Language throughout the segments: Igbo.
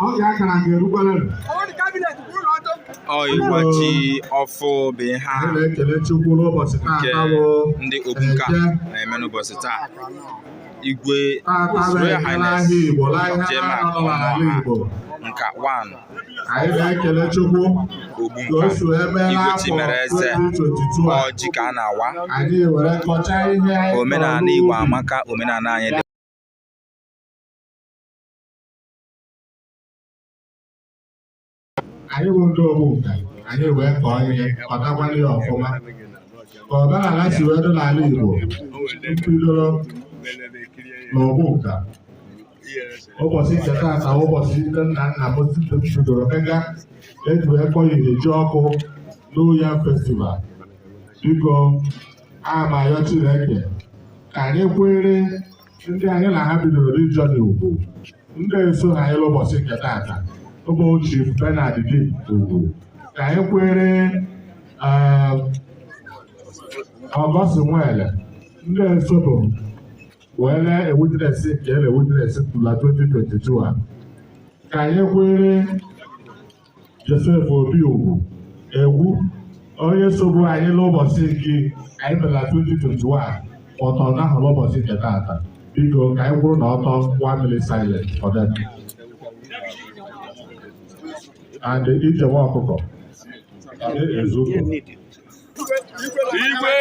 ọ ga-akara nke erukwere ọ ịwa ji ọfụ bụ ihe a nke ndị Ogbunka na-eme n'ụbọchị taa igwe Royal Highness Jema nka one Ogbunka igwe Chimereze ọ ji ka a na-awa omenala Igbo amaka omenala anyị dị anyị bụ ndị Ogbunka anyị wee kọọ ihe kọtakwala ya ọfụma ka omenala si wee dị n'ala Igbo bidoro na Ogbunka ụbọchị nke taata ụbọchị ndị nna nna m tupu m bidoro mega e ji wee kpọ ya ji ọfụ New Yam festival biko ama yọ Chineke ka anyị kwere ndị anyị na ha bidoro journey ugwu ndị esoha anyị ụbọchị nke taata ụmụ Chief Bernard Dim ugwu ka anyị kwere ọgọst eh, nwele ndị esobu wee lee e-witness nke ele e-witness tụla 2022 a ka anyị kwere Joseph Obi Ugwu egwu onye sobu anyị n'ụbọchị nke anyị bịara 2021 ọtọ n'ahụ n'ụbọchị nke taata biko ka anyị kwụrụ na ọtọ one minute silence for them and ijewa ọkụkọ ezuko igwe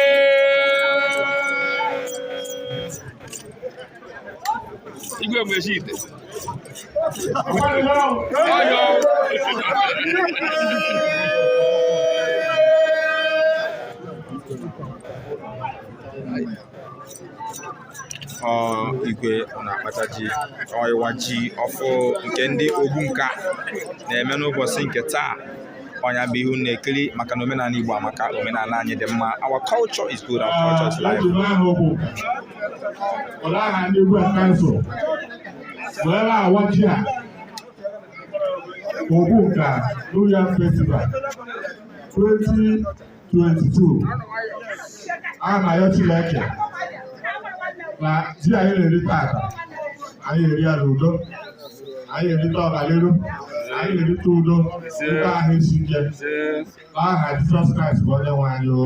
igwe mgbechi ite ọyọ Thank you. igwe na-akpata ji ọ ịwa ji ọfụ nke ndị Ogbunka na-eme n'ụbọchị nke taa ọ nya bụ ihe unu na-ekiri maka na omenala Igbo amaka omenala anyị dị mma our culture is good and culture is life Ogbunka New Yam Festival 20 22 a na-ayọ Chineke na ji anyị na-eri taata anyị eri ya n'udo anyị erite ọganiru anyị erite udo ebe ahụ isi ike n'aha Jizọs Kraịst bụ onye nwe anyị o